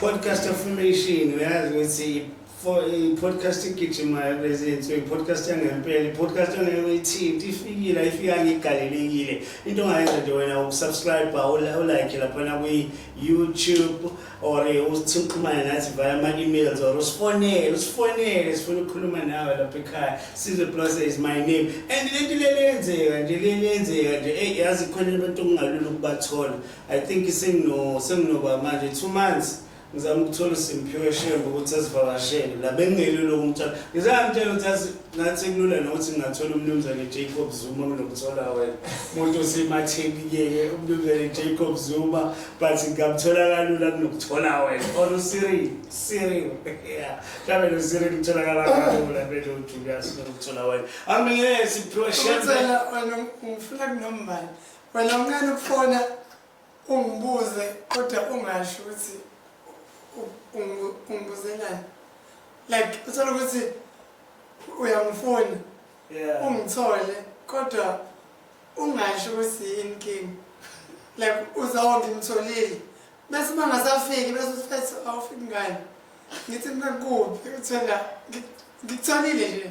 Podcast affirmation uyazi ukuthi i-podcast igijimayo kulezi nsuku i-podcast yangempela i-podcast angeke uyithinti ifikile ayifika ngigalelekile into ongayenza nje wena ukusubscribe ulike laphana kwi-youtube or uthi uxhumane nathi via ama-emails or usifonele usifonele sifuna ukukhuluma nawe lapha ekhaya size plus is my name and lento lelenzeka nje lelenzeka nje eyi yazi khona abantu okungalula ukubathola i think sengino senginoba manje two months ngizama ukuthola usimphiwe shembe ukuthi asivakashele la bengingelilo kumthola ngizamtshela ukuthi Ngathi kulula nokuthi ngingathola umnumzane Jacob Zuma kunomthola wena. Umuntu osematheni kuyeke umnumzane Jacob Zuma but ngamthola kalula kunokuthola wena. Or uSiri, Siri. Yeah. Mhlawumbe lo Siri kutholakala kalula bese uJulius kunokuthola wena. Angeke siphiwe shembe. Uthela wena ufuna kunombani. Wena ungani ukufona Ungibuze kodwa ungasho ukuthi ungibuzelani. Like uthola ukuthi uyangifuna. Yeah. Ungithole kodwa ungasho ukuthi yini kimi. Like uzawo ngimtholile. Bese mangasafiki bese usithi awufiki ngani. Ngithi mina kuphi uthola ngitholile nje.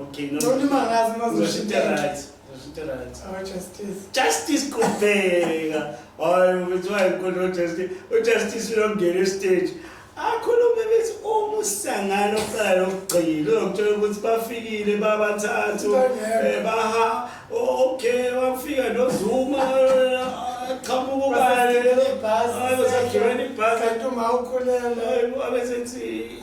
Okay, no. Noma imangazi mazoshintsha right. Zoshintsha right. Our oh, justice. Justice kubheka. Hayi ubethiwa inkolo justice. UJustice uyongena estage. Akhulume bethi uma usangana oqala lokugcina uyokuthola ukuthi bafikile babathathu eh baha okay wafika noZuma qhamuka ubani. Ayosagibela ibhasi. Kanti uma ukhulelwe abesethi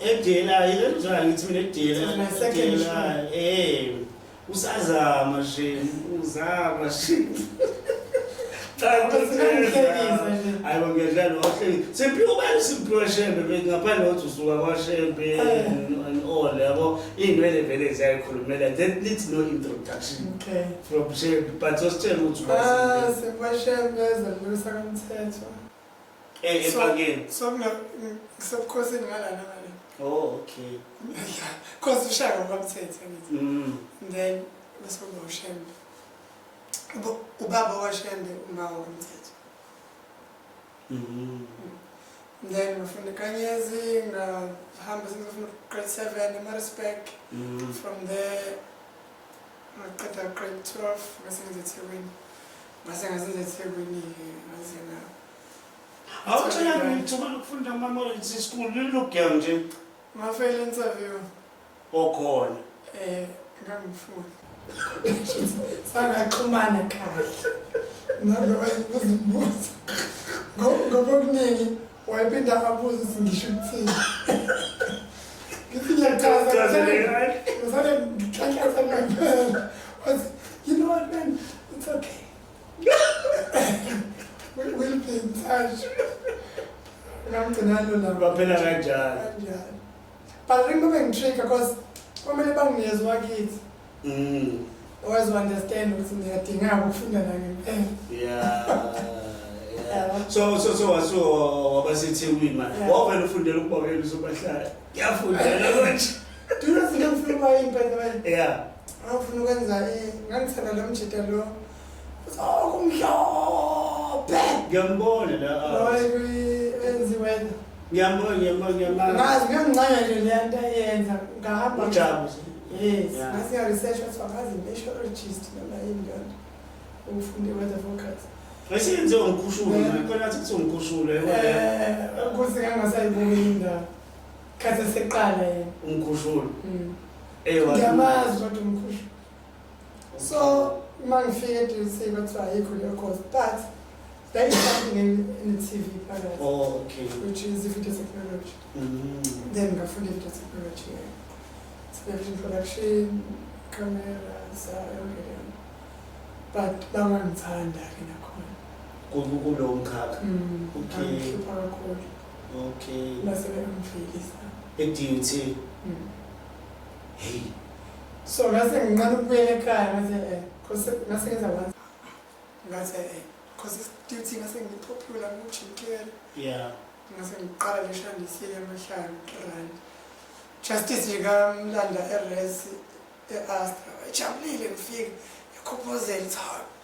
edelayo lenjani ngithi mina edelayo eh usazama nje uzama nje cha kusebenza hayi ngiyadlala wahleli simphi ubani simphi washembe ngaphandle kokuthi usuka kwashembe and all yabo iy'nwele vele ziyayikhulumela that needs no introduction okay From Shembe, but usitshela ukuthi Ah, wazi. sekwashembe ezembulisa kamthetho. Eh, So- ebhakeni. So mina ng- ngisebukhosini ngalana ngale. Oh, okay. Cause ushaya ngokwamthetho ngithi. Mm. And then bese kuba ushembe. Uba- Ubaba washembe uma wakamthetho. Mm. And then ngafunda eKanyezi ngahamba sengizofunda grade 7 eMaritzburg. Mm. From there Ngaqeda grade 12 ngase ngenza eThekwini. Ngase ngazenza eThekwini-ke ngaze nga awutshela ngithuba lokufunda ama-marriage school lilugel nje ngafela interview okhona eh ngangifuni sangaxhumana kahle naloba ibuzibuza ngoba okuningi Wayephinda abuze ukuthi ngisho ukuthini. Ngithi ngiyachaza ngisale ngisale ngikhankatha ngempela. Wathi you know what man it's okay. we will be in touch. Ngamgcina lona. Baphela kanjalo. Kanjalo. But ringo bengitrigger because kwamele banginezwa kithi. Mm. Always understand ukuthi ngiyadingaka ukufunda naye ngempela. Yeah. Yeah. So so so wasu wabasethekwini manje. Wavela ufundela ukuba wena uzobahlala. Ngiyafundela konje. Do you know ngifuna ukuba impela? Yeah. Ngifuna ukwenza eh ngangithanda lo mjita lo. Okumhlophe. Ngiyambona la. Hayi enziwe. Ngiyambona ngiyambona ngiyambona. Ngazi ngiyancanya nje le nto ayenza ngahamba. Ujabu. Yes. Ngase ya research wathi wakazi meteorologist noma yini kanti. Ufunde weather forecast. Esenze umkhushulo eh. manje khona athi kuthiwa umkhushulo yebo. Eh, ukuthi kangasayibuki indawo. Khathi seqala yena. Umkhushulo. Mm. Ewa. Ngiyamazi kodwa umkhushulo. So uma ngifike eduze kuthiwa ayikho leyo course but there is something in, in the TV phakathi Oh, okay. which is i-video technology. Mm. Then ngafunda i-video technology. yeah. So ngafunda production, camera, so yonke leyo. But la ngangithanda ke nakhona. Ku- Kulowo mkhakha. Mm, Okay. ngangihlupha kakhulu. Okay. Base bengangifeyilisa. E-DUT. Mm. Hey. So ngase ngiqala ukubuyela ekhaya ngathi eh cause ngase ngenza kwanza. Ngathi eh cause duty ngase ngipopular ngijikela. Yeah. Ngase ngiqala leshandisile amahlanu rand. Justice ngikamlanda eRes eAstra. Ejabulile ngifika ekhophozel it's hard.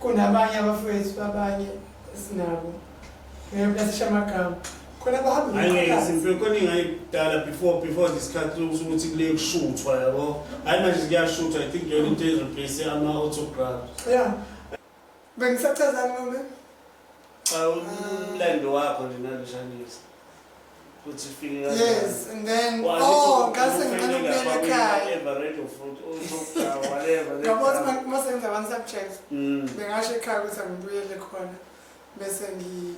kunabanye abafowethu babanye esinabo ngeyokulasisha amagama khona bahamba angeke simfike khona ingayidala before before this cut ukuthi kule kushuthwa yabo hayi manje kuyashuthwa i think yona into ezoplace ama autograph yeah bengisachazani ngombe Cha umlando wakho nje naloshanisa. Kuthi ufike kanjani? Yes, and then Wathi oh, u- ngase ngicela ufike ukubuyela lapha ekhaya. kwi-whatever, red or fruit, or something, whatever, that Yabo stuff. uma uma senza one subject, Mm. bengasho ekhaya ukuthi angibuyele khona bese ngi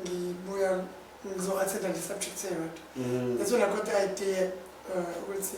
ngibuya ngizo-attenda le subject eyodwa. Mm. That's when I got the idea uh, ukuthi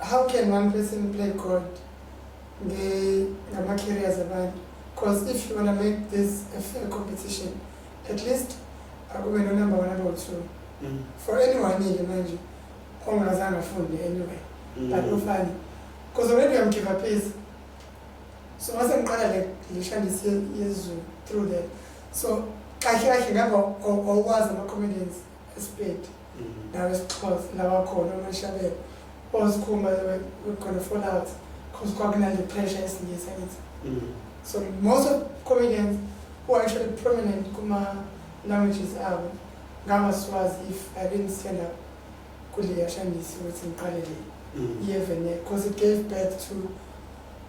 how can one person play God ngama-carriers abantu because if you want to make this a fair competition at least akube nonumber one number two mm. for anyone ile manje ongazange afunde anyway mm. but ufane because already am give up is so mase ngiqala le lishandise yezulu through that so kahle kahle ngaba awukwazi ama-comedians Isipedi nawe sixhosa lawa khona umashabela ozikhumba khona fall out because kwakunale pressure esingisa ngithi mm. so most of comedians who are actually prominent kuma languages abo ngangaswazi if i didn't stand up kuleyashandisi ukuthi ngiqalele mm. iyevene because it gave birth to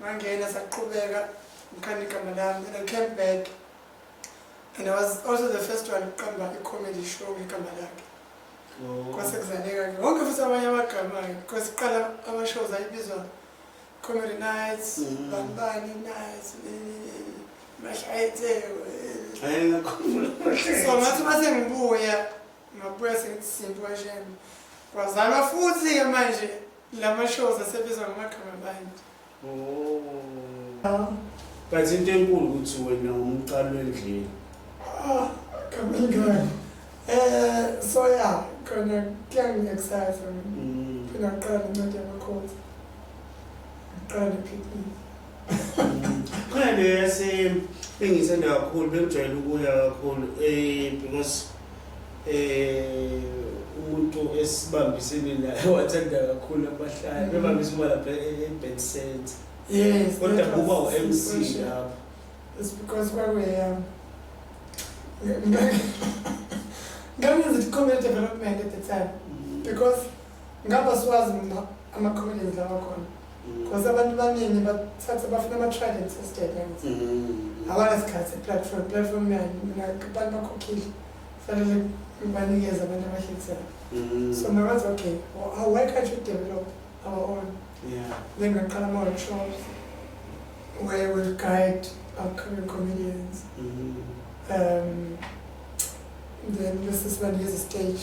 ngangena saqhubeka ngikhanda igama lami and i came back and i was also the first one ukuqamba i-comedy show ngegama lakhe oh. kwase kuzaleka ke wonke futhi abanye abagamayo because kuqala ama-shows ayibizwa comedy nights mm. banibani nights mashayetheko so ngathi uma sengibuya ngabuya sengithi simbi kwashembe kwazalwa futhi-ke manje Lama shows asebizwa ngamagama abantu. Oh. But into enkulu ukuthi wena umqalo endlini. Ah, kamingani. Eh, so yeah, khona kuyangiexcite mina. Mm. Phela ngiqala incwadi yamakhosi. Ngiqala picnic. khona le yase engithanda kakhulu bengijwayele ukuya kakhulu um because um umuntu esibambisene naye wathanda kakhulu abahlali mm. bebambisa uma lapha e-bed center yes kodwa kuba u-m c lapho it's because kwakweyam ngangenza i-community development at the time mm. because Ngaba siwazi mina ama-comedians lawa khona because abantu baningi bathatha bafuna ama-tried and tested angithi Mm. awanasikhathi se-platform platform yani mina abantu bakhokhile fanele ngibanikeze abantu abahlekisela Mm. so makathi okay well, how- why can't you develop our own Yeah. then ngaqala ama-workshops where we'll guide upcoming comedians Mm. um, then bese sibanikeza i-stage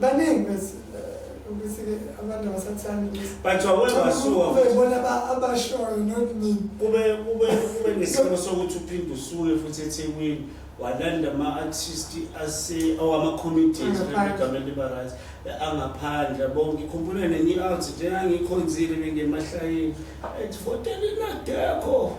baningi bese ukuthi ke abantu abasathandi ukuthi but wawena wasuka kube bona abashoyo not me kube kube kube nesimo sokuthi uphinde usuke futhi eThekwini walanda ama artist ase awama committees begamela libarazi angaphandle bonke ikhumbule nenye out nje angikhonzile ngemahlangeni ethi votela inadekho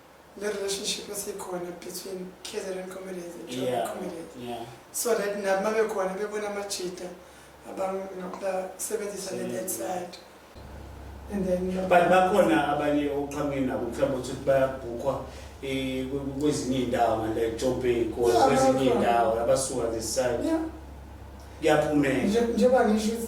le relationship esikhona between KZN comedians and Joburg yeah, comedians yeah. so that nabo mabekhona bebona amajita abangasebenzisa le that side and then but bakhona abanye oqhameni nabo mhlawumbe ukuthi bayabhukhwa eh, kwezinye iy'ndawo ngale Joburg or kwezinye iy'ndawo abasuka this side kuyaphumela njengoba ngisho ukuthi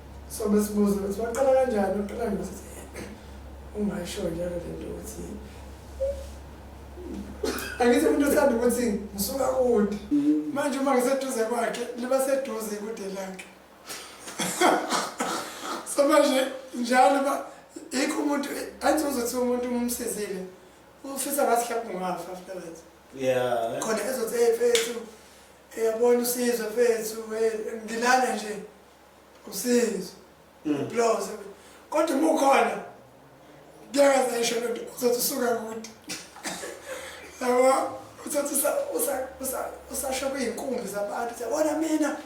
so besibuza ukuthi waqala kanjani uqala ngokuthi ungasho njalo le nto ukuthi angithi umuntu uthanda ukuthi ngisuka kude manje uma ngiseduze kwakhe liba seduze kude lakhe so manje njalo uba yikho umuntu angithi uzothi umuntu umsizile ufisa ngathi hlapha ungafa after that yeah khona ezothi hey fethu uyabona usizwe fethu ngilala nje usinzo mm. ubloze kodwa uma ukhona kuyakaze isho lento uzothi usuka kude yabo uzothi usasho kuyinkumbi zabantu siyabona mina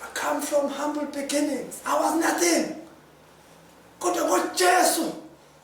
i come from humble beginnings i was nothing kodwa ngojesu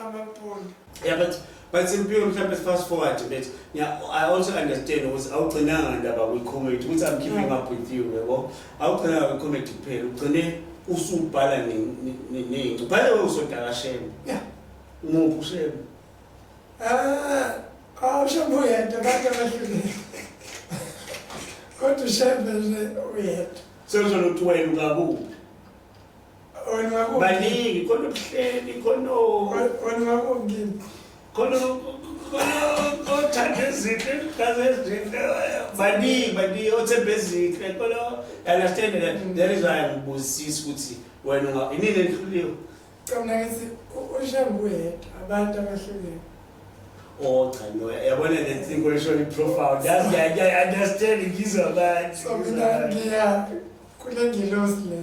amapoli yeah but but simphiwe mhlawumbe fast forward but yeah, i also understand ukuthi awugcinanga ndaba kwi-comedy ukuthi i'm keeping up with you yebo awugcinanga kwi-comedy kuphela ugcine usubhala neyinci ubhale we usodala shema ya umuphi ushema ah, awushema uyedwa abantu abahlukile kodwa ushema nje uyedwa sezolokuthiwayela ukakuphi baningi khona ubuhleli khona khona othanda izinto engazi ezinto baningi baningi othemba ezinhle khona understand that there is why ngibuzisisa ukuthi wena inini endihluliwe cabna ngithi ushambe uyedwa abantu abahlukene Oh cha no, yabona le thing kweshona iprofile. That's the idea. I understand ngizwa kahle. So mina ngiya kule ngilosi le.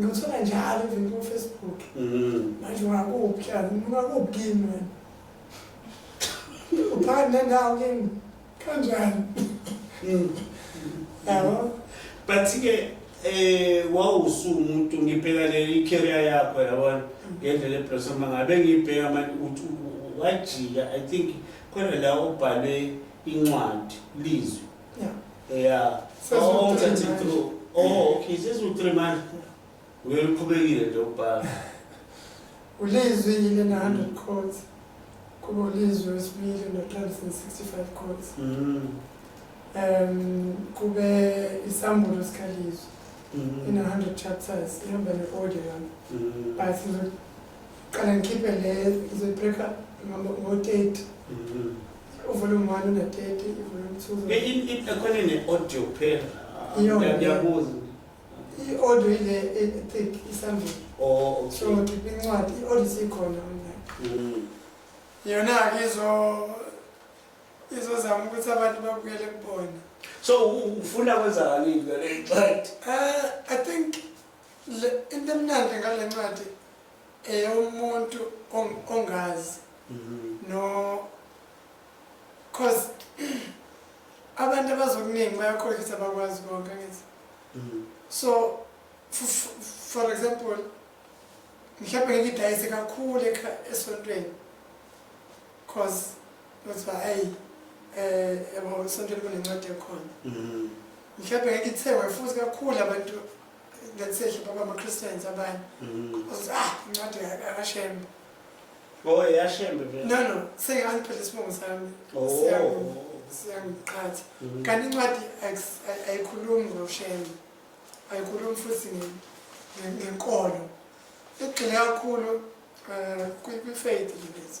Ngithola njalo even ku Facebook. Mhm. Manje wakuphi la? Ngakuphi kimi wena? Uphakathi nendawo kimi. Kanjani? Mm. Yabo? But ke eh wawusu umuntu ngibheka le career yakho yabona ngendlela eblossom ngabe ngibheka manje ukuthi u- u- wajika I think khona la ubhalwe incwadi lizwi Yeah. Yeah. Says oh, with three months. Through. Oh, okay. Says with three months. We're uqhubekile nje ubhala. Ulizwi yile na 100 codes. Kuba ulizwi wesibili no 365 codes. Mm. Um kube isambulo sikalizwi. Mm. In 100 chapters ihamba ne audio yami. Mm. But ngizoqala ngikhiphe le ngizoyibreak up ngo 8. Mm. Uvolume 1 une 30, uvolume 2. Ke in in ekhona ne audio kuphela. Iyona. Ngiyabuza. I-audio ile ethick isambili. Oh, okay. So ngiphi incwadi i-audio sikhona online. Mm. Yona ke izo izozama ukuthi abantu babukele kubona. So u- ufuna kwenzakani ngale ncwadi? Eh, I think le into emnandi ngale ncwadi Eh umuntu ongazi no cause abantu abazokuningi bayakhohlisa bakwazi konke ngithi mm. so for example mhlawumbe ngeke idayise kakhulu esontweni cause kuthiwa hayi um yabo esontweni kunencwadi ekhona mm. mhlawumbe ngeke ithengwe futhi kakhulu abantu let's say hlobo bama-christians abanye ozothi ah incwadi akashembe Oh, yashembe vele. No no, seyangiphethe isibongo sami. Oh. Siyangiqhatha. Mm-hmm. Kanti incwadi ayikhulumi ngoshembe. Ayikhulumi futhi ngenkolo. Igxile kakhulu eh, kwi-faith lezi.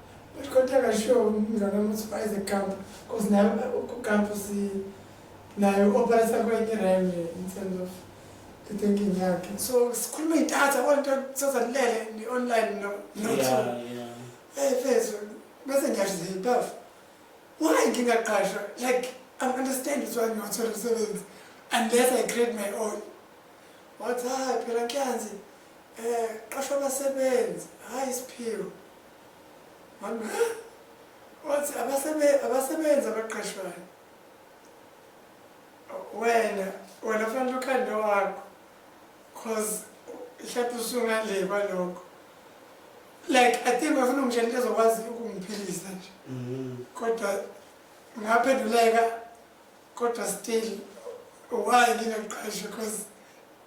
But kodwa kashiwo umngane ukuthi bayize camp because nayo kucamp si nayo operate kwenye ram in terms of the thinking yakhe. So sikhuluma idatha konke sozalilele ni online no no. Yeah, yeah. Hey, fezwe. Bese ngiyasho ziphafu. Why ngingaqashwa? Like I understand it's why ngiyothola umsebenzi unless I create my own. Wathi hayi phela ngiyanzi eh qashwa abasebenzi hayi isiphiwo. wathi abasebenzi abaqashwayo wena wena fanele ukhande wakho cause ihlathi usungale kwalokho like i think bafuna ungitshela into ezokwazi ukungiphilisa nje mm-hmm. kodwa ngaphenduleka kodwa still why ngingaqashe cause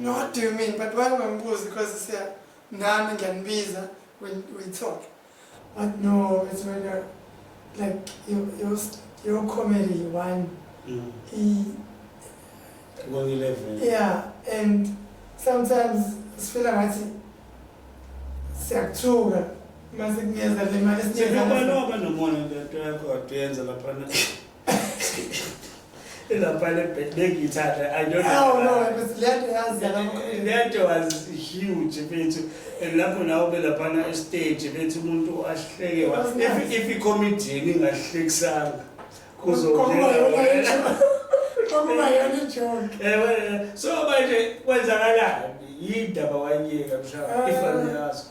No, what do you mean? But why ungambuzi because siya nami ngiyanibiza we we talk. But no, it's when you're like your your your comedy one. Mm. He, One eleven. yeah, and sometimes sifila ngathi siyakuthuka mase kunyeza le mali Sekuba sinyeza. loba nomona lento yakho aduyenza laphana. Ilapha le bed bengiyithanda. I don't know. Oh no, it was lento yazi yalamakhulu. Lento was huge bethu. And lapho nawo belaphana estage bethu umuntu ahleke wa. That's nice. If if i-comedian ingahlekisanga Kokuba yona ijo- kokuba yona ijoke. Ewe, so manje kwenzakalani? Yini ndaba wayiyeka mhlawumbe Ah. ifani yazo.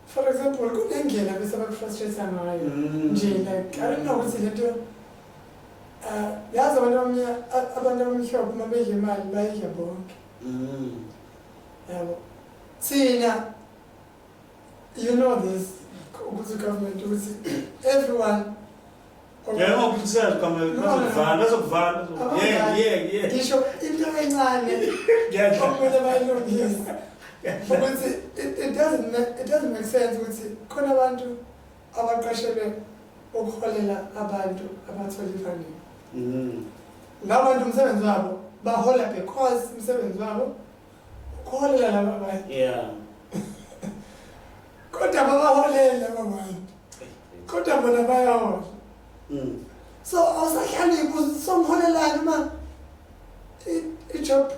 for example kunendlela bese bakufrustrate ngayo mm. nje like i don't know ukuthi lento uh, yazi abantu abamnyama abantu abamhlophe uma bedla imali bayidla bonke mm. yabo thina you know this ukuthi government ukuthi everyone Yebo ukusela kamele bazokuvala bazokuvala. Yeah yeah yeah. Ngisho into encane. Ngiyadla. Okumele bayilungise. Ukuthi it doesn't it doesn't make sense ukuthi khona abantu abaqashelwe ukuholela abantu abathola ifunding. Mhm. Labantu umsebenzi wabo bahola because umsebenzi wabo ukuholela laba bantu. Yeah. Kodwa babaholela laba bantu. kodwa bona bayawa mm. so awusahlali songiholelani uma i-job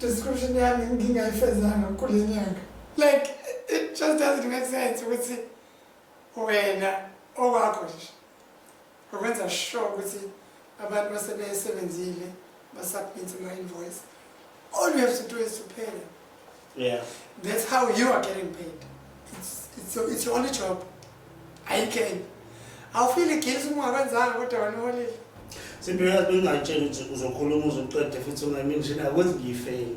description yami ngingayifezanga kule nyanga like it just doesn't make sense ukuthi wena okwakho nje ngokwenza sure ukuthi abantu basebesebenzile basubmit ama-invoice all you have to do is to pay them yeah. that's how you are getting paid it's, it's, it's your only job ayikho enye awufile guilty uma ungakwenzanga kodwa wena uholile sibeka bengayitshela ukuthi uzokhuluma uzoqede futhi ungayimenshini akwenzi ngiyifeyini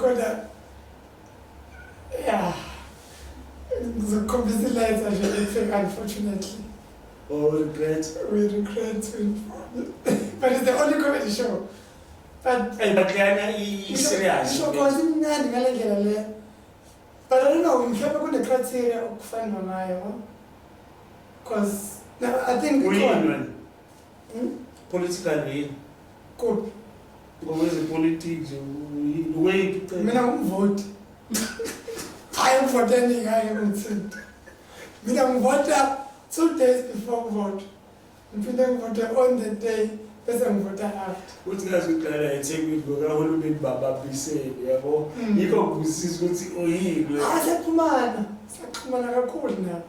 kodwa ya ngizokukhombisa ilayitha nje lifika unfortunately or oh, regret we regret to inform you but it's the only comedy show but ayibakuyana i-serious isho cause imnandi ngale ndlela le but i don't know mhlawumbe kune-criteria okufanwa ngayo cause i think uyinwen Hmm? Political yini? Kodwa ngokwezepolitiki nje uyini weyiphi cela? Mina ngumvoti. Hayi umvoti endingaye kumthinta. Mina ngivota two days before kuvote. Ngiphinde ngivote on the day bese ngivota after uthi ngazoqala ethekwini ngokahulumeni bababisele yabo mm. yikho kusisa ukuthi oyini asephumana saxhumana kakhulu nabo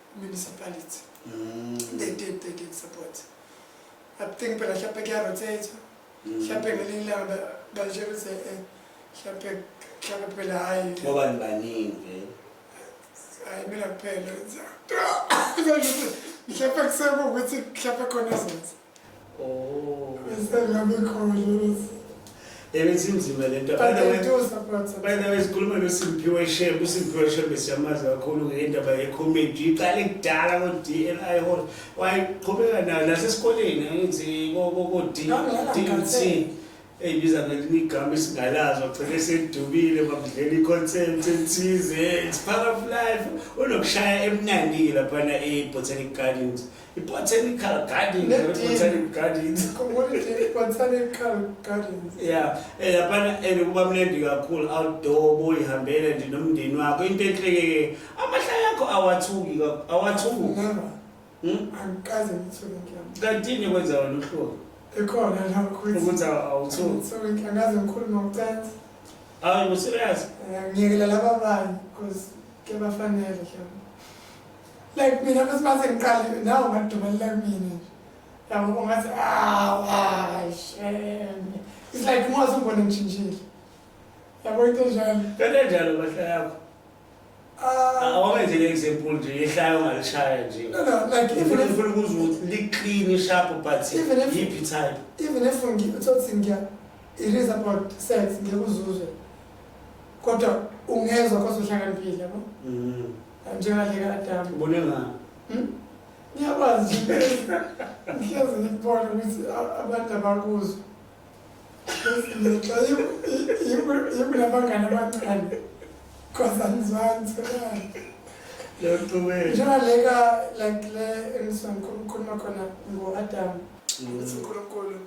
municipality mm. they did they did support i think phela mhlawumbe kuyarotatha mm. mhlawumbe ngelinye ilanga bashela ukuthi eh, mhlawumbe mhlawumbe phela hhayi ngobani baningi vele hhayi mina kuphela mhlawumbe kusekuwukuthi mhlawumbe khona zenza Oh. Yabethi inzima le nto. By the way, by the way sikhuluma noSimphiwe Shembe, uSimphiwe Shembe siyamazi kakhulu ngendaba ye-comedy. Iqale kudala ko-DNI hall. Wayeqhubeka nayo nasesikoleni angithi ko-DNC. eyibiza ngelinye igama esingalazi ogcine esedubile bakudlela i-concept ethize it's part of life unokushaya emnandi-ke laphana e-botanic gardens i-botanical gardensbotanic gardens ya eh, laphana and kuba mnandi kakhulu outdoor boyihambela nje nomndeni wakho into enhlekeke amahlaya akho awathuki awathuki Hmm? Angikaze ngithuke ngiyamu. Kantini kwenza wena uhluka. Ikhona la ukuthi. Ukuthi awuthuki. Ngithuke ngiyangaze ngikhulu ngokucansi. Hayi ngo serious. Eh, ngiyekela laba abanye because ke bafanele ngiyamu. Like mina bese mase ngiqale nawo madumelela kumina. Yabo ungathi ah why shame. It's like mose ubone ngishintshile. Yabo into njalo. Kanjalo bahla yakho. Ah, awenze le example nje yehlayo ongalishaya nje no no like even if ufuna ukuzwa ukuthi li-clean sharp but Even if- yiphi type even if ngi- uthothi ngiya it is about sex ngeke uzuzwe kodwa ungezwa kodwa uhlakaniphile yabo Mm. njengadle kaadamu ubone ngani Hmm? ngiyakwazi nje ngihlezi ngikubona ukuthi a- abantu abakuzwa Ibulabangana bancane because angizwani sebani njengaleka like le engisangikhuluma khona ngo-adam ukuthi unkulunkulu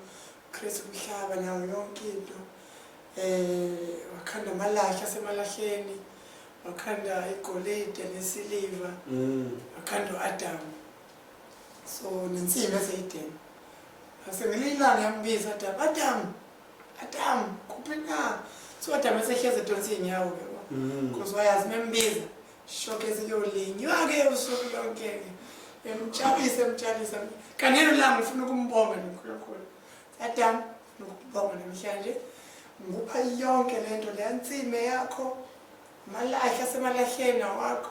kristu umhlaba nawo yonke into um wakhanda amalahle asemalahleni wakhanda igolide nesiliva wakhanda u-adamu so nensimbi eseyideni ngase ngelinye ilanga yambiza adam adam adam kuphi na so adam esehlezi edonsa iy'nyawo-ke because mm. wayazi membiza shoke siyolinywa-ke usuku lonke-ke emtshalise emtshalise kanelo langa ufuna ukumbonga nonkulunkulu adam ufuna ukumbonga namhlanje ngikupha yonke le nto leya nsime yakho malahla asemalahleni awakho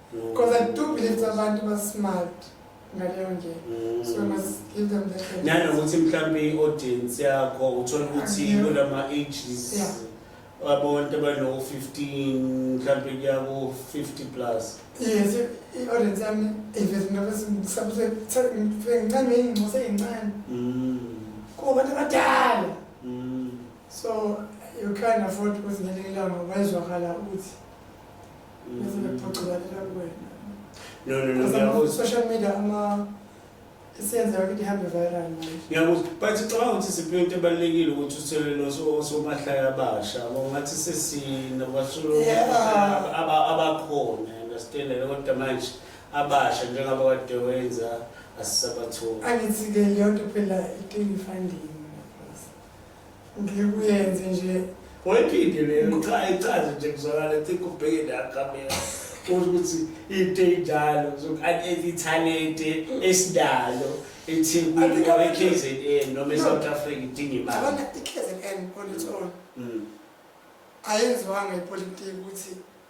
Because I do believe that abantu ba smart ngaleyo ndlela. Mm. So must give them that. chance. nanokuthi mhlawumbe i-audience yakho uthole ukuthi Yeah. kulama ages Yeah. abantu abano-15 mhlawumbe kuyaku-50 plus Yes, i- i-audience yami iveze into abesisabuse ngincane ingcosa eyincane Mm, kuba abantu abadala. mm. So you can't afford ukuthi ngelinye ilanga wayezwakala ukuthi No, no, no, ngiyakuzwa. Social media ama isenzeka ukuthi ihambe viral manje. Ngiyakuzwa. But ngicabanga ukuthi siphe into ebalulekile ukuthi uthole noso osomahlaya abasha. Ngathi sesina basulu Yeah. aba- abakhona understand and kodwa manje abasha njengoba kade wenza asisabatholi. Angithi-ke leyo nto phela idinga i-funding. ngikuyenze nje wayithinte leyo cha ichaze nje kuzwakala ethi kubheke la camera ukuthi into enjalo ithalente esinalo ethekwini or e-kzn noma e-south africa idinga imali i-kzn on its own ayenziwanga ipolitiki ukuthi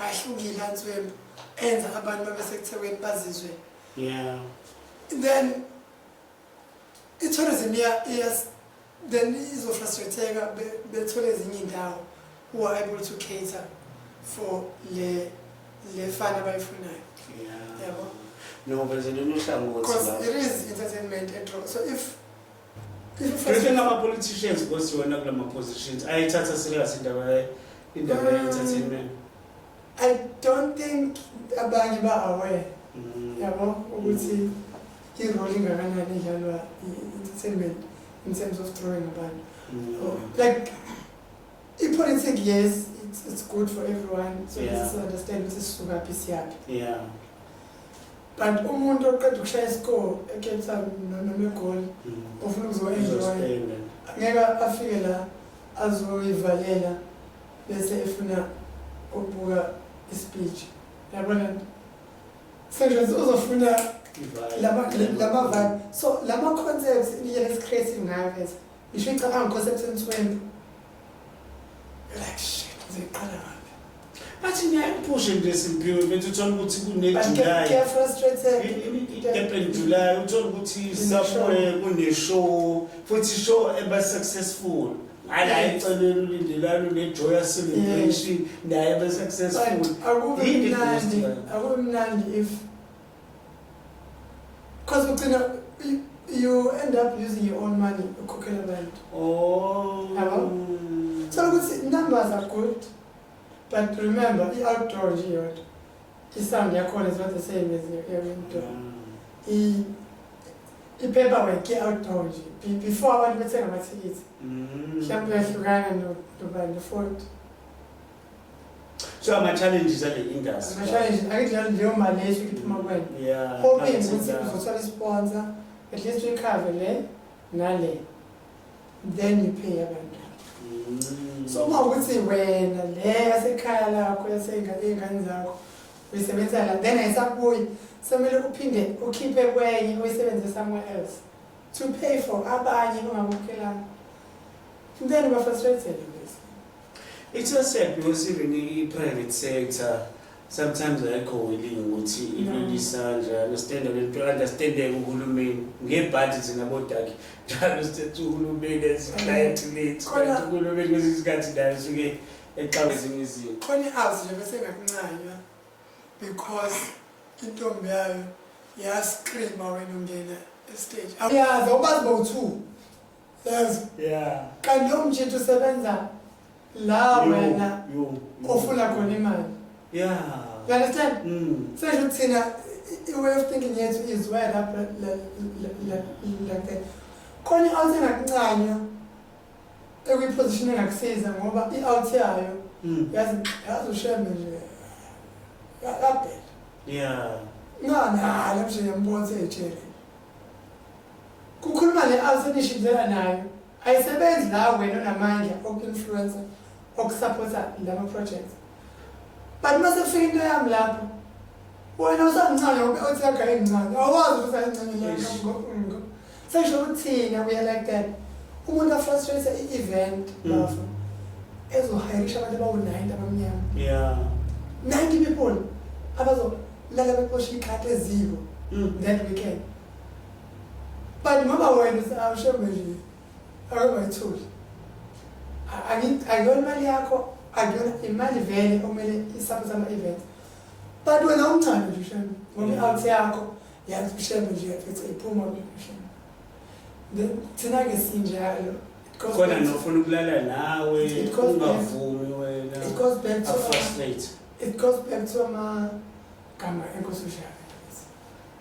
ahlukile anzwembu enza abantu babesekuthekwini bazizwe yeah then i-tourism yes then izofrustratheka bethole ezinye indawo who are able to cater for le le fana abayifunayo yabo no but there's a new song because it is entertainment at all so if Do you think ama politicians kosiwona kulama positions ayithatha serious indaba indaba ye entertainment? I don't think abanye ba aware. Mm. Yabo ukuthi irole ingakanani idlalwa i-entertainment in terms of throwing abantu. Mm. Oh, like ipolitiki yes it's, it's good for everyone so yeah. this is understand ukuthi sisukaphi siyaphi. Yeah. but umuntu oqeda ukushaya iscore ecape town noma egoli mm. ofuna ukuzoenjoya ngeke afike la azoyivalela bese efuna ukubuka ispeech yabona senje uzofuna lama vibe so lama concepts indlela esi-creative ngayo vese ngisho icabanga concepts ensuwembu like shit ngiqala ngaphi bathi ngiyayiphushe nje simphiwe mfethu uthola ukuthi kunejuly april july uthola ukuthi somewhere kuneshow futhi show eba successful ala icelelo lindelani unejoya celebration naye besuccessful akube mnandi akube mnandi if Cause ugcina you end up using your own money ukhokhela abantu. Oh. Yabo? Thola ukuthi numbers are good but remember i-outdoor nje yodwa i-sound yakhona is not the same as i-indoor. I i-paperwork i-outdoor nje Be- before abantu bethenga amathikithi mhlawumbe uyahlukana no- nobani no-forty. so ama challenges ale industry ama challenges ake njalo leyo mali leyo iphuma kwena yeah hoping ukuthi uzothola sponsor at least we cover le nale then you pay abantu mm. so uma ukuthi wena le yasekhaya lakho yaseyingane zakho uyisebenza la then ayisabuyi somele uphinde ukhiphe kwenye uyisebenze somewhere else to pay for abanye ongakukhelanga then uba frustrated It's a sad because even the private sector sometimes ayikho willing ukuthi ilule isandla understand lento understandeke uhulumeni ngebhadi thina bodaki njalo sithethe uhulumeni eziclient lethu kanti uhulumeni kwezinye izikhathi naye usuke exawe ezinye izinto khona i-house nje bese ngakuncanywa because intombi yayo yascreama wena ungena estage yazi awubazi bowu-two yazi yeah kanti lo mjithu usebenza la wena ofuna khona imali yeah you understand mm. sesho ukuthi thina i-way of thinking yethu is where up like that khona i-out engakuncanywa ekwiposition engakusiza ngoba i-out yayo mm. yazi yazi ushembe nje kabhela yeah ngani hala mshe yambona seyejele Kukhuluma le alpha enishidlela nayo ayisebenzi la wena onamandla oku-influencer okusapotha lama projects but uma sekufika into yami lapho wena usamncane ube othi yagaya incane awazi ukuthi ayincane sesho ukuthina kuya like that umuntu afrustrate i-event mm. bafo ezohayirisha abantu abawu-ninety abamnyama ninety people abazolala beqosha ikhati eziko mm. that weekend but ngoba wena awushembe nje akabayitholi akuyona imali yakho akuyona imali vele okumele isaphosa ama-events but wena umthando nje ushembe ngoba i-out yakho yazi ushembe nje yafetha iphuma ushembe then thina-ke sinjalo khona nofuna ukulala nawe ungavumi wena it goes back to it goes back to amagama enkosi ushaka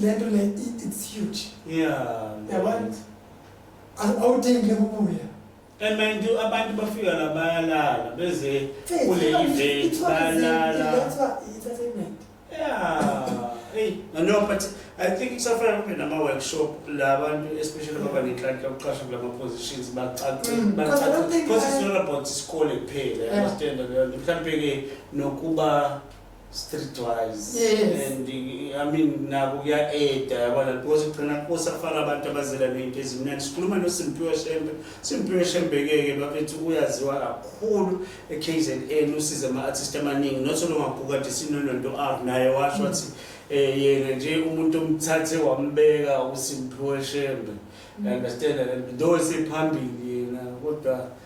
lento le it's huge yeah yabona awudingi ukubuya and mind you abantu bafika la bayalala beze kule event bayalala yeah hey no but I think kusafana kube nama-workshop la bantu especially ababa nenhlanhla yokuqasha kula ma-positions bacace mm, because it's not about isikole kuphela understand leyo nto mhlawumbe-ke nokuba streetwise yes. and i mean nabo kuya-eda yabona because kugcina kusafana abantu abazela ney'nto ezimnandi sikhuluma nosimpiwe shembe simpiwe shembe-ke-ke bafethu uyaziwa kakhulu e-k z n usize ama-artist amaningi not olongagukade sinononto r naye washo wathi mm. eh, yena nje umuntu omthathe wambeka usimpiwe shembe mm. understand though sephambili yena kodwa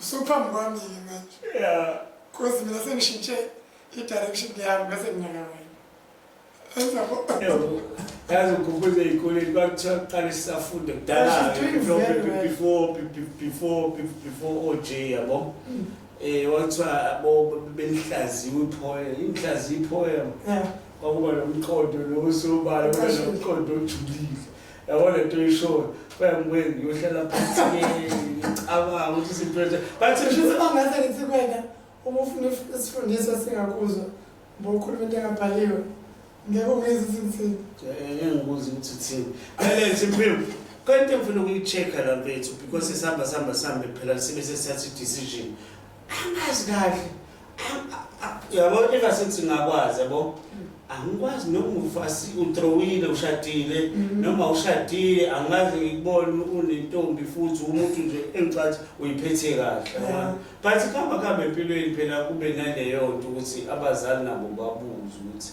Usuphambi kwami ke manje. Yeah. Cause mina sengishintshe i-direction yami bese nginyaka wena. Enza bo. Yazi ukhumbuze ikoleni kwakuthiwa kuqale sisafunde kudala before before before OJ yabo. Mm. Eh wathiwa abo belihlaziwe iphoya, inhlazi iphoya. Yeah. Kwakuba nomqondo lo sobala, kwakuba nomqondo ojulile. yabo le nto uyishoyo kwayamkweni ngiyohlala phansi ngicabanga ukuthi izinto enje bathi ngase ngithi kwena uma ufuna isifundiswa singakuzwa bokhuluma into engabhaliwe ngeke ungezi izinzini engikuzi ukuthi thini alenze impilo kanti ngifuna ukuyi-check-a la mfethu because sihamba sihamba sihambe phela sibe sesithatha i-decision angazi kahle yabo eka sengithi ngakwazi yabo angikwazi noma ufasi utrowile ushadile mm-hmm. noma ushadile angazi ngikubona unentombi futhi umuntu nje engicathi uyiphethe kahle but kuhamba kuhambe empilweni phela kube naleyo nto ukuthi abazali nabo babuze ukuthi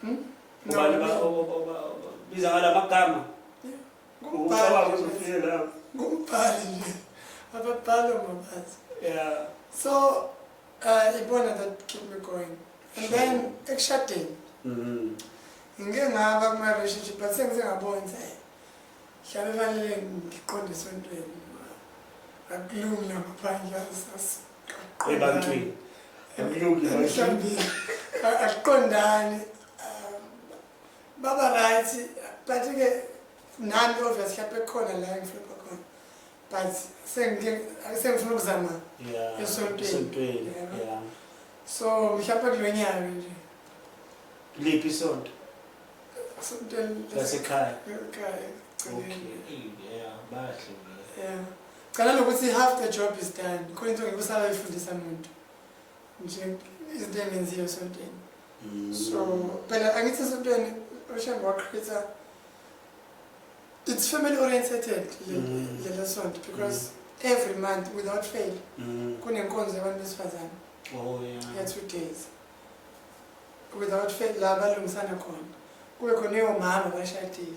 Hmm? Ubani ba biza ngala magama. Ngubani uzofika la. Ngubani nje. Ababhalo ngobazi. Yeah. So uh ibona that keep me going. And then ekushadeni. Mhm. Ngike ngaba kuma relationship but sengizengabona nje. Hlale lalele ngiqonde esontweni. Akulungi lapha phandle asasaqaqo. Ebantwini. Akulungi mhlawumbe. Akuqondani. Baba right but ke nami obviously lapha ekhona la ngifuna khona. But sengike sengifuna ukuzama esontweni. Esontweni. Yeah. So mhlawumbe kulonyaka nje. Liphi isonto? lasekhaya cala nokuthi half the job is done khona into ngikusala ifundisa muntu nje izinto engenziyo esontweni mm. so phela angithi esontweni oshambe waqhitha it's family orientated mm. lelo sonto because mm. every month without fail kunenkonzo yabantu besifazane oh, yeah. ya two days without fail la balungisana khona kube khona eyomama bashadile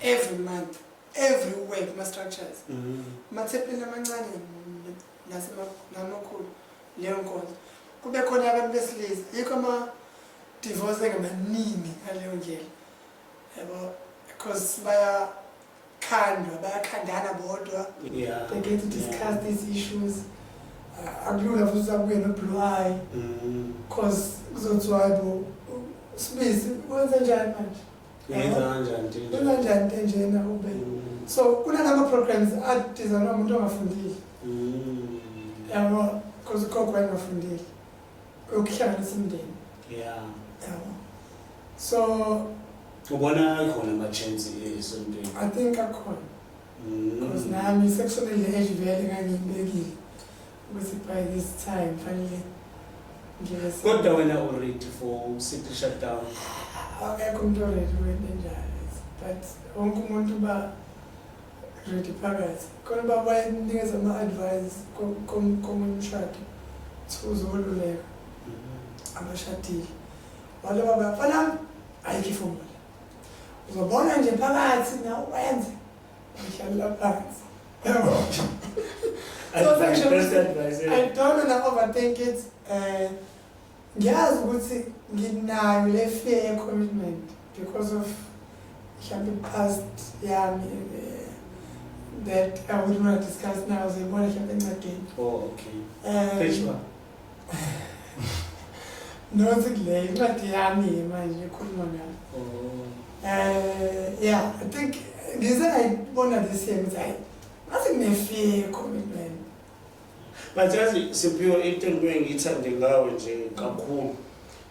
every month every way kuma-structures mm. mathepeni amancane nasemakhulu leyo nkonzo kube khona abantu besilisa yikho ama-divorce engamaningi ngaleyo ndlela yabo because baya khandwa bayakhandana bodwa yeah. they get to discuss yeah. these issues uh, akulula futhi sabuye noblue eye because mm. kuzothiwa hayibo sibisi wenze njani manje yenza njani te njena ube mm. so kunanama-programs adizanwa umuntu ongafundile mm. yabo because ugogo wayengafundile yokuhlanganisa umndeni yeah yabo so ubona khona ama chance esontweni i think akhona because mm. nami sekushonele age vele ngangibekile ukuthi by this time fanele kodwa wena uready for city shutdown akekho umuntu oready wena njalo but wonke umuntu uba ready phakathi khona uba bayakunikeza ama-advise komunye umshado kuthiwa uzoluleka mm-hmm. abashadile wale baba fanami ayikho ifomula uzobona nje phakathi na wenze ngihlalela phansi so section i don't wanna overthink it um Ngiyazi ukuthi nginayo le fear ye-commitment because of mhlawumbe past yami eh, that I wouldn't want to discuss now ziyibona mhlawumbe encwadini oh okay um, page one nothi kule incwadi yami manje ekhuluma ngayo oh. eh yeah i think ngize ngayibona this year ukuthi hayi ngathi ngine-fear ye-commitment But yazi Siphiwe into engibuye ngiyithande ngawe nje kakhulu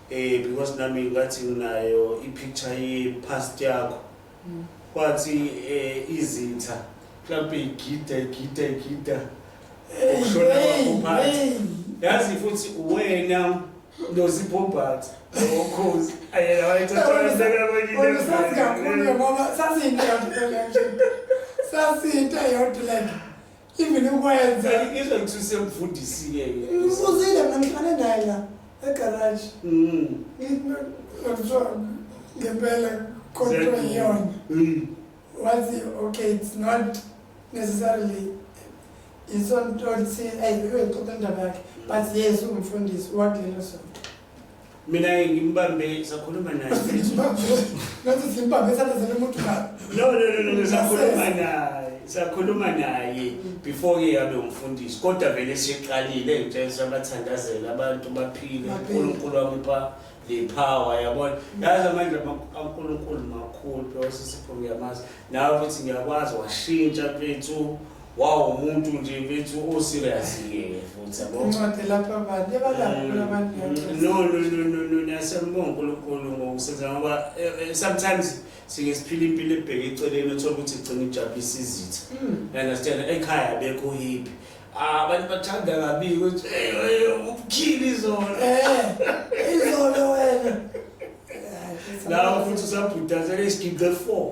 eh because nami ngathi nginayo i-picture ye-past yakho mm. kwathi eh izitha mhlawumbe igida igida igida ukushona kwakuphathi yazi futhi uwena nozibhobhathi okhozi ayena wayethathasazi kakhulu ngoba sasiyinto yodwa nje sasiyinto yodwa like even ukwenza ngizwe ukuthi usemfundisile ke ngifuzile mina ngihlale naye la egarage mm ngithiwa ngempela kodwa iyona mm. wathi okay it's not necessarily isonto lithi ayi uyixoxa indaba yakhe but yes ungumfundisi wakulelo sonto mina ngimbambe sakhuluma naye ngathi simbambe sathazela umuntu ka no no no no sakhuluma naye sakhuluma naye before ke yabe umfundisi kodwa vele siqalile ngitshela sabathandazela abantu baphile uNkulunkulu wamupha le power yabona yazi amandla kaNkulunkulu makhulu phela sisipho ngiyamazi nawe futhi ngiyakwazi washintsha mfethu Wow umuntu nje bethu o serious ke futhi yabo. Incwadi lapha abantu yabalapha mm, abantu. Mm, no no no no no niyasembonga uNkulunkulu ngokusenza ngoba eh, eh, sometimes sike siphila impilo ebheke eceleni othola ukuthi igcina ijabulisa izitha. Mm. You understand? Ekhaya bekho hippie. Ah, abantu bathanda kabi ukuthi hey eh, ubukhili izolo. Eh. Izolo wena. Lawo futhi usabhudazela isigidi 4.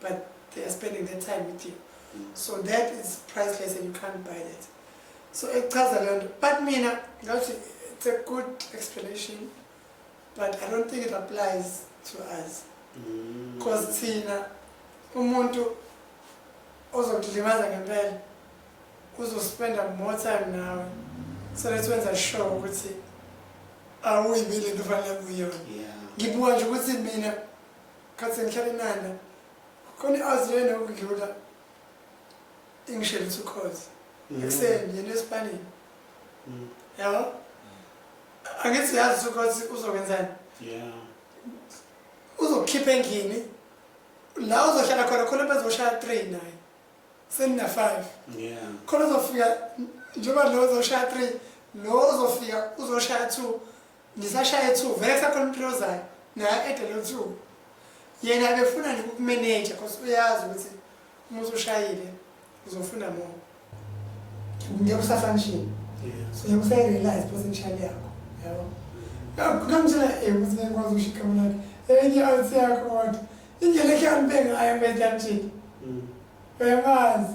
but they are spending their time with you so that is priceless and you can't buy that so ekuchaza leyo nto but mina ngathi it's a good explanation but i don't think it applies to us because mm. thina umuntu ozokudlimaza ngempela uzospenda more time nawe so let's wenza sure ukuthi awuyibile into fanele kuyona ngibuka nje ukuthi mina khathi sengihlale nanda khona i-azi yena ukudlula ingishelisa ukhozi mm. ekuseni yena esipanini mm. yabo angithi uyazi ukhozi uzokwenzani uzokukhipha endlini la uzohlala khona khona bezoshaya three naye senina-five khona uzofika njengoba lo uzoshaya three lo uzofika uzoshaya two Ngisashaya ethuku vele kusakhona umphilo ozayo naye ede lo nsuku yena abefuna nje ukukumeneja cause uyazi ukuthi uma usushayile uzofuna more ngeke usafunction so ngeke usayirealize potential yakho yabo ngamtshela eh ukuthi ngeke ngikwazi ukushika mina enye out yakho kodwa indlela ehambe ngayo manje uyamazi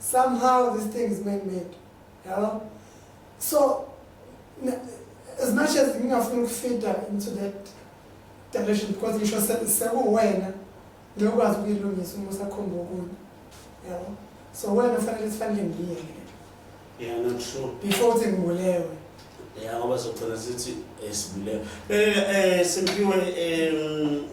somehow this thing is man made yabo so as much as ngingafuna ukufida into that direction because ngisho sekuwena ngiyokwazi ukuyilungisa uma usakhomba okunye yabo so wena fanele sifanele ngiyele yeah not true before uthi ngibulewe ya ngoba sogcina sithi eh, sibulewe eh simpiwe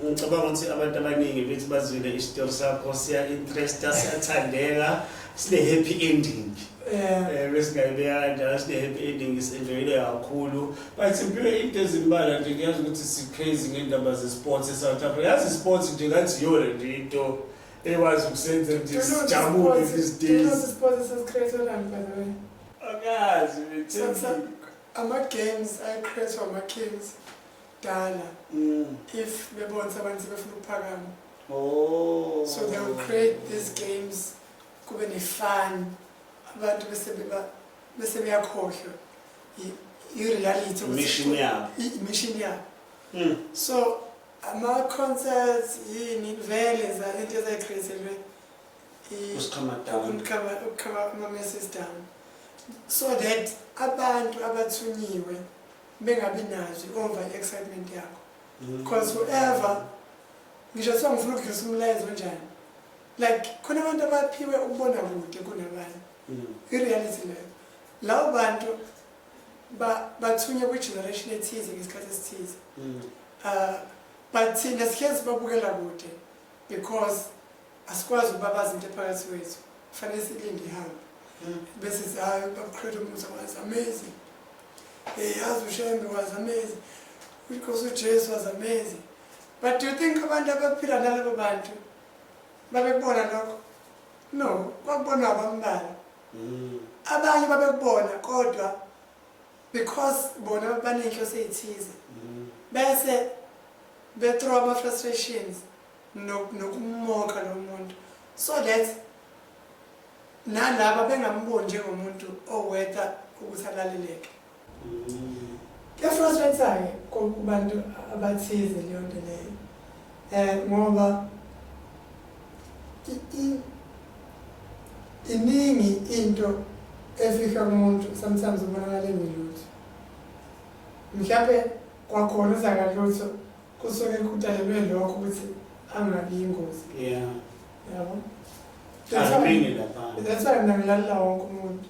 ngicabanga ukuthi abantu abaningi bethi bazwile isitori sakho siya interesta siyathandeka sine happy ending eh besingayibeka kanjalo sine happy ending isenjoyile kakhulu but simpiwe into ezimbala nje ngiyazi ukuthi siphezi ngendaba zesports eSouth Africa yazi isports nje ngathi yona nje into ekwazi ukusenza nje sijabule these days ama-games ayecrashwa ama-kings dala mm. if bebona ukuthi abantu sebefuna ukuphakama oh. so they will create these games kube ne-fun abantu bese beyakhohlwa i-reality imishini yabo imishini yabo hmm. so ama-concerts yini vele zalento ezayicreaselwe ama-message down so that abantu abathunyiwe bengabi nazo over i-excitement yakho because mm. whoever ngisho kuthiwa ngifuna ukudlisa umlayezo onjani like khona abantu abaphiwe ukubona kude kunabanye mm. i-reality leyo lawo bantu bathunywe kwi-generation ethize ngesikhathi esithize um mm. uh, but thina sihlezi babukela kude because asikwazi ukubabaza into ephakathi kwethu kufanele silinde ihambe hmm. bese zayo babuqhela umusa was amazing hey yazi ushembe was amazing because ujesu was amazing but do you think abantu abaphila nalabo bantu babekubona lokho no kwakubonwa abambalwa hmm. abanye babekubona kodwa because bona banenhloso eyithize mm. bese bethrow ama frustrations nokumoka lo muntu so that nalaba bengamboni njengomuntu owetha ukuthi alaleleke mm. kuyafrustrate-ke kubantu abathize leyo nto leyo um ngoba iningi into efihla umuntu sometimes ubonakala engelutho mhlawumbe kwakhona uzakalutho kusuke kudalelwe lokho ukuthi angabi yingozi yeah yabo that's why ngilalela wonke umuntu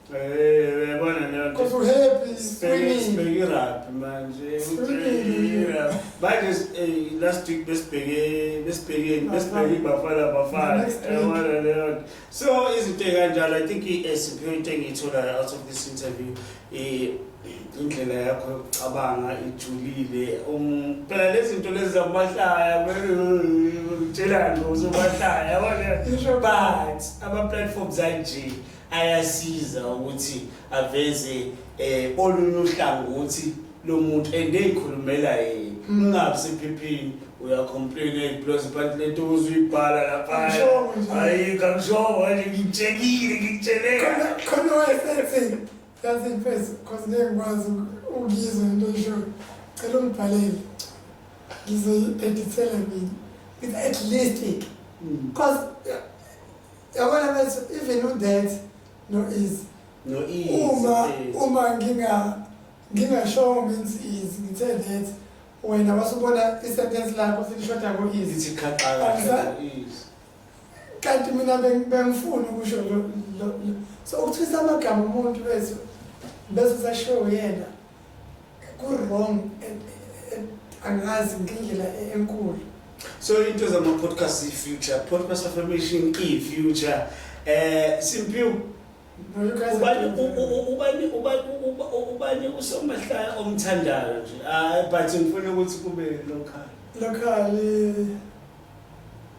Because we're happy, screaming. Bekiraphi manje Screaming. manje s- eh, last week besibheke besibhekeni besibheke ibafana bafana Next week. yabona leyo nto. so izinto ey'kanjalo i think i-esiphi into engiyitholayo out of this interview eh, indlela yakho yokucabanga ijulile Um, phela lezi zinto lezi zakumahlaya utshelani uzomahlaya yabona Isho but ama-platforms anje ayasiza ukuthi aveze eh olunye uhlangothi lomuntu and eyikhulumela yena ungabi sephepheni uyacomplain eyiblows phansi lento uzuyibhala lapha Kamshowe nje. hayi kamshowe nje ngitshekile ngikutsheleka Khona- khona wayesethi yazi mfethu cause ngeke ngikwazi uku- ukuyizwa into oyishoyo cela ungibhalele ngizoyi-edithela mina ngithi at least cause yabona bethu even udet no-easy uma uma nginga ngingashongo means is ngithe that wena wasubona isentence lakho silishoda ngo-easy kanti mina bengifuni ukusho so ukuthwisa amagama umuntu wethu bese usashiwo yena Ku-wrong angazi ngendlela enkulu. So into zama-podcast i-future, podcast affirmation i-future. Eh Simpiwe ubani ubani ubani ubani usomahlaya omthandayo nje hayi but ngifuna ukuthi kube local local eh,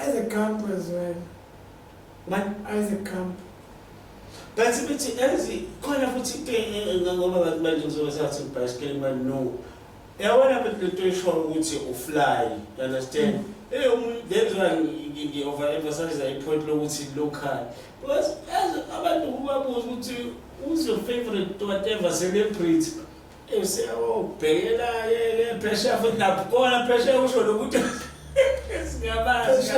Isaac Camp as well. What Isaac Camp? But futhi yazi khona futhi into engenga ngoba abantu manje ngizobe sathi ibhayisikeli manje no. Yabona phela lento eshoyo ukuthi ufly, you understand? Mm. Hey, umuntu that's why ngi over emphasize i point lokuthi local. Because abantu kubabuza ukuthi who's your favorite whatever celebrity? Usewubhekela yeke phesheya futhi nakhona phesheya usho lokuthi singabazi.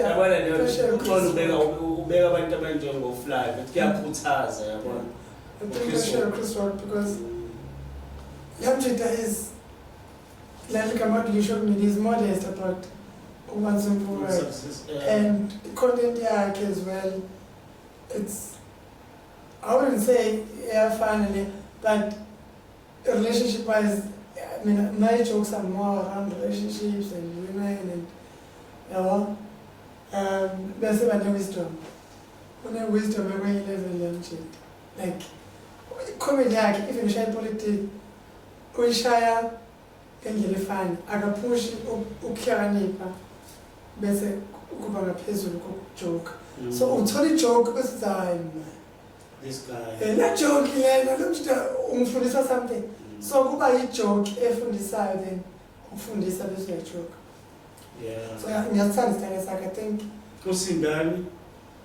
Yabona nje uxolo ubeka ubeka abantu abanjengofly ukuthi kuyakhuthaza yabona. I think I share Chris Rock because Lamjita is like Kamadlisho Mini is modest about Uman Simple and content yakhe as well. It's I wouldn't say iyafana le but relationship wise mina my jokes are more around relationships and women and yabo um bese bane wisdom une wisdom ekwenye level yamjita like comedy yakhe even ushaya ipolitiki uyishaya Ngendlela efana, akaphushi ukuhlakanipha bese kuba ngaphezulu kokujoka. Mm. So uthola ijoke bese uthi hayi mna. This guy. Eh, la joke lena lo mshita ungifundisa something. Mm. So kuba ijoke efundisayo then ukufundisa bese uyajoka. Yeah. So ngiyathanda isithanda sakhe, I think. Usindani?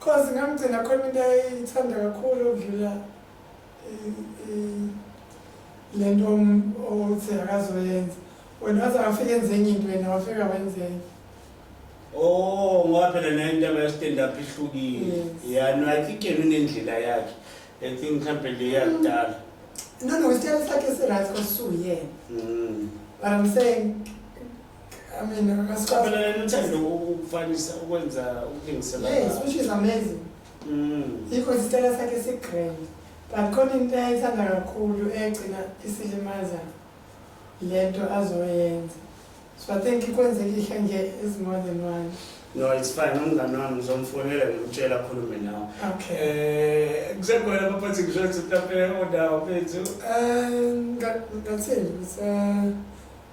Cause ngamgcina khona into ayithanda kakhulu ukudlula le nto othi akazoyenza wena waze wafika enze enye into wena wafika wenzenye Oh ngoba phela nayo indaba ya stand up ihlukile. Yeah, no I think yena unendlela yakhe. I think mhlambe le yakudala. No no isitayela sakhe si right kwasuyena. Mm. But I'm saying Amina, Mina asicabeleleni uthando ukufanisa ukwenza ukulingisela. Yes, which is amazing. Mm. Ikho isitela sakhe sigrand. But khona into ayithanda kakhulu egcina isilimaza lento azoyenza. So I think ikwenzeka ihle nje is more than one. No, it's fine. Umngane wami ngizomfonela ngimtshela akhulume nawe. Okay. Eh, kusekhona abaphathi ngisho ukuthi mhlawumbe odawo bethu. Eh, ngathini?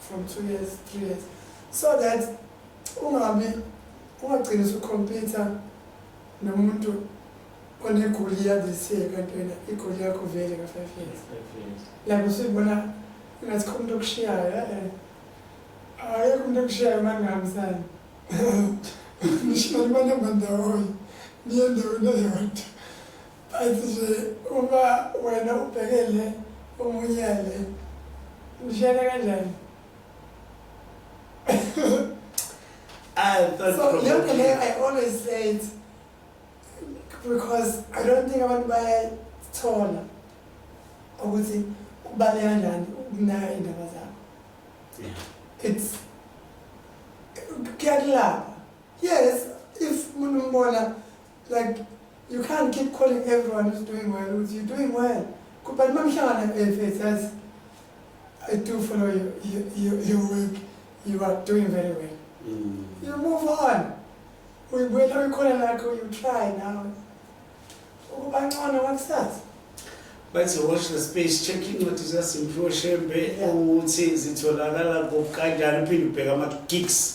for two years three years so that ungabi ungagcini usucompyutha nomuntu onegoli yadisiye kantwena igoli yakho vele ka-five years like usuyibona ingathi kho umuntu okushiyayo eh, eh. ayekho umuntu okushiyayo uma ngingahambisani nishona libanamba ndawonye niye ndawona yodwa But nje uma wena ubhekele omunye le mshele kanjani so yonke leyo i always say it because i don't think abantu bayayithola ukuthi kubaleka kanjani ukunaka iy'ndaba zakho it's kuyakulapha yes if umuntu umbona like you can't keep calling everyone who's doing well who's you doing well but mamhlangana efethu yazi i do follow your, your, your, your work you are doing very well mm. you move on uyibuyela uyikhona lakho you try now ukuba ngcono kwakusasa bathi watch the space check incwadi zikasimpiwe shembe ukuthi zitholakala kokanjani uphinde ubheke ama-gigs